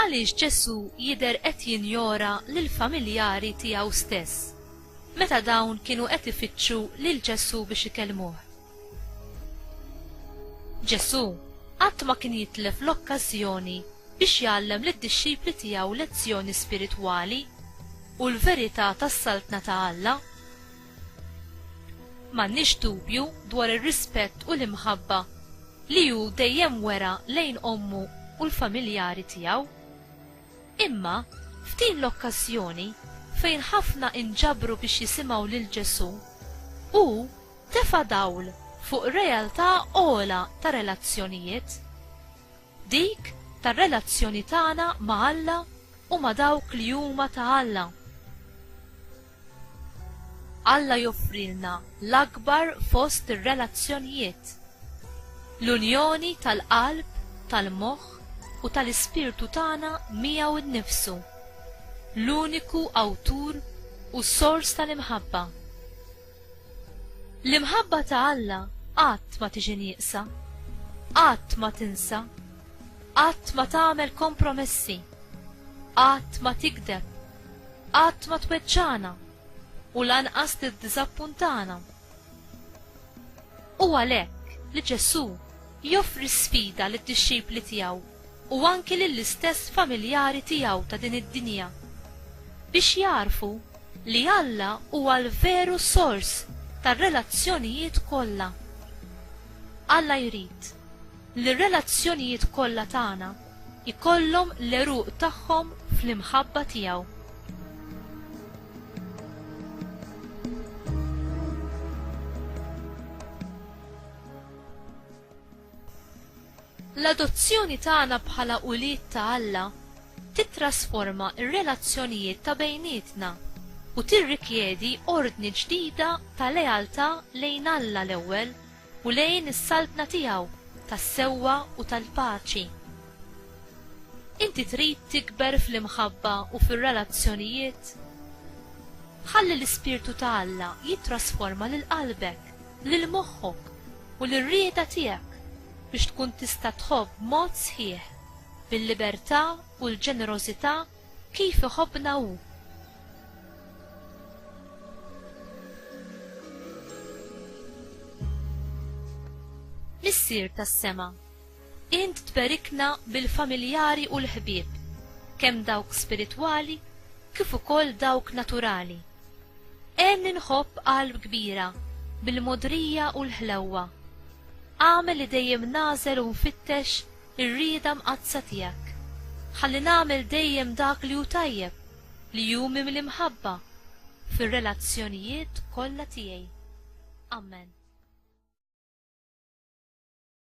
għaliex Ġesù jidher qed jinjora lill-familjari tiegħu stess meta dawn kienu qed ifittxu lil Ġesù biex ikellmuh. Ġesù qatt ma kien jitlef l-okkażjoni biex jgħallem lid-dixxipli tiegħu lezzjoni spiritwali u l-verità tas-Saltna ta' Alla. M'għandniex dubju dwar ir-rispett u l-imħabba li hu dejjem wera lejn ommu u l-familjari tiegħu. Imma f'din l-okkażjoni fejn ħafna inġabru biex jisimgħu lil Ġesù, hu tefa' dawl fuq realtà ogħla ta' relazzjonijiet, dik tar-relazzjoni tagħna ma' Alla u ma' dawk li huma ta' Alla. Alla joffrilna l-akbar fost ir-relazzjonijiet, l-unjoni tal-qalb, tal-moħħ u tal-ispirtu tagħna miegħu nnifsu, l-uniku Awtur u Sors tal-imħabba. L-imħabba ta' Alla qatt ma tiġi nieqsa, qatt ma tinsa, qatt ma tagħmel kompromessi, qatt ma tigdeb, qatt ma tweġġagħna u lanqas tiddiżappuntana. Hu għalhekk li Ġesù joffri sfida lid-dixxipli tiegħu u anki lill-istess familjari tiegħu ta' din id-dinja, biex jagħrfu li Alla huwa l-veru sors tar-relazzjonijiet kollha. Alla jrid li r-relazzjonijiet kollha tagħna jkollhom l-għeruq tagħhom fl-imħabba tiegħu. L-adozzjoni tagħna bħala ulied ta' Alla titrasforma r-relazzjonijiet ta' bejnietna u tirrikjedi ordni ġdida ta' lealtà lejn Alla l-ewwel u lejn is-Saltna tiegħu tas-sewwa u tal-paċi. Inti trid tikber fl-imħabba u fir-relazzjonijiet? Ħalli l-ispirtu ta' Alla jittrasforma lil qalbek, lil moħħok, u lir-rieda tiegħek biex tkun tista' tħobb b'mod sħiħ, bil-libertà u l-ġenerożità kif iħobbna hu. Missier tas-sema, Int tberikna bil-familjari u l-ħbieb, kemm dawk spiritwali kif ukoll dawk naturali. Għenni nħobb qalb kbira bil-mogħdrija u l-ħlewwa. Agħmel li dejjem nagħżel u nfittex ir-rieda mqaddsa tiegħek. Ħalli nagħmel dejjem dak li hu tajjeb, li hu mimli mħabba, fir-relazzjonijiet kollha tiegħi. Amen.